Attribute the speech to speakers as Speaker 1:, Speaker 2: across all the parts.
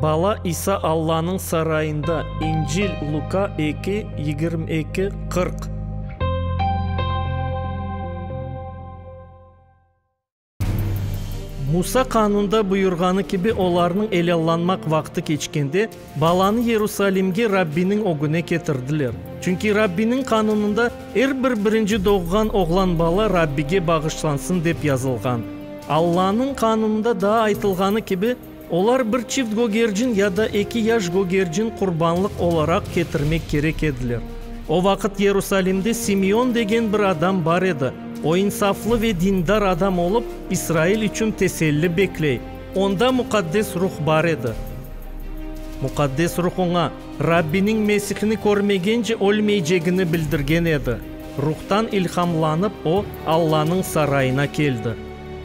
Speaker 1: Bala İsa Allanıñ sarayında, İncil, Luka eki, yigirmi eki, qırq. Musa qanunda buyurğanı kibi olarnıñ elallanmaq vaqtı keçkende, Balanı Yerusalimge Rabbiniñ ögüne ketirdiler. Çünki Rabbiniñ qanunında, Er bir birinci doğğan oğlan bala Rabbige bağışlansın dep yazılğan. Allanıñ qanunında daa aytılğanı kibi, olar bir çift gögercin ya da eki yaş gögercin qurbanlıq olaraq ketirmek kerek ediler. O vaqıt Yerusalimde Simeon degen bir adam bar edi, o insaflı ve dindar adam olıp, İsrail içün teselli bekley. Onda Muqaddes Ruh bar edi. Muqaddes Ruh oña Rabbiniñ Mesihni körmegence ölmeycegini bildirgen edi. Ruhtan ilhamlanıp, o, Allanıñ sarayına keldi.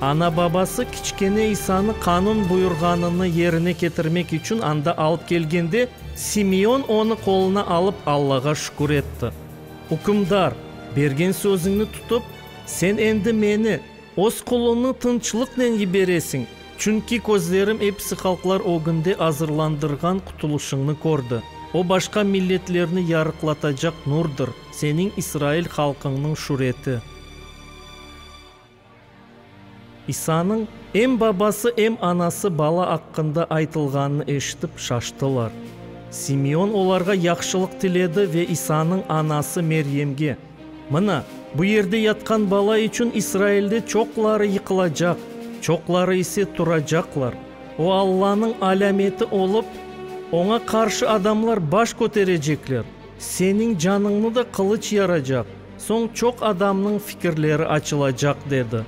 Speaker 1: Ana-babası kiçkene İsanı qanun buyurğanını yerine ketirmek içün anda alıp kelgende, Simeon onı qoluna alıp Allağa şükür etti. Ükümdar, bergen sözüñni tutıp, sen endi meni. Öz qulunı tınçlıqnen yiberesiñ, çünki közlerim episi halqlar ögünde azırlandırğan qutulışıñnı kördi. O başqa milletlerni yarıqlatacaq nurdır, seniñ İsrail halqıñnıñ şüreti. İsanıñ, em babası, em anası bala aqqında aytılğanını eşitip, şaştılar. Simeon olarğa yahşılıq tiledi ve İsanıñ anası Meryemge. Mına, bu yerde yatqan bala içün İsrailde çoqları yıqılacaq, çoqları ise turacaqlar. O Allanıñ alâmeti olıp, oña qarşı adamlar baş köterecekler, seniñ canıñnı da qılıç yaracaq, soñ çoq adamnıñ fikirleri açılacaq, dedi.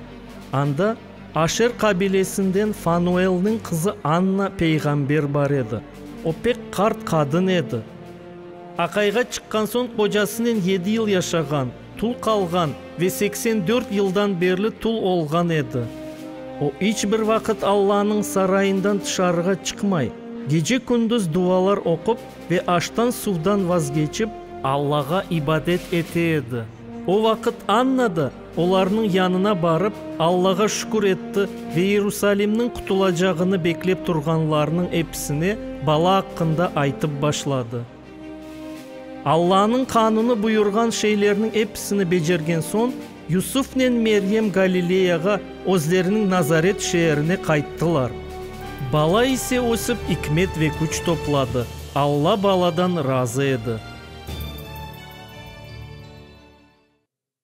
Speaker 1: Anda Aşer qabilesinden Fanuelniñ qızı Anna peyğamber bar edi. O pek qart qadın edi. Aqayğa çıqqan soñ qocasınen yedi yıl yaşağan, tul qalğan ve seksen dört yıldan berli tul olğan edi. O, iç bir vaqıt Allanıñ sarayından tışarığa çıqmay, gece-kündüz duvalar oqup ve aştan-suvdan vazgeçip, Allağa ibadet ete edi. O vaqıt Anna da Olarnıñ yanına barıp, Allağa şükür etti ve İerusalimniñ qutulacağını beklep turğanlarnıñ episine bala aqqında aytıp başladı. Allanıñ qanunı buyurğan şeylerniñ episini becergen soñ, Yusufnen Meryem Galileyağa, özleriniñ Nazaret şeerine qayttılar. Bala ise ösip, ikmet ve küç topladı, Alla baladan razı edi.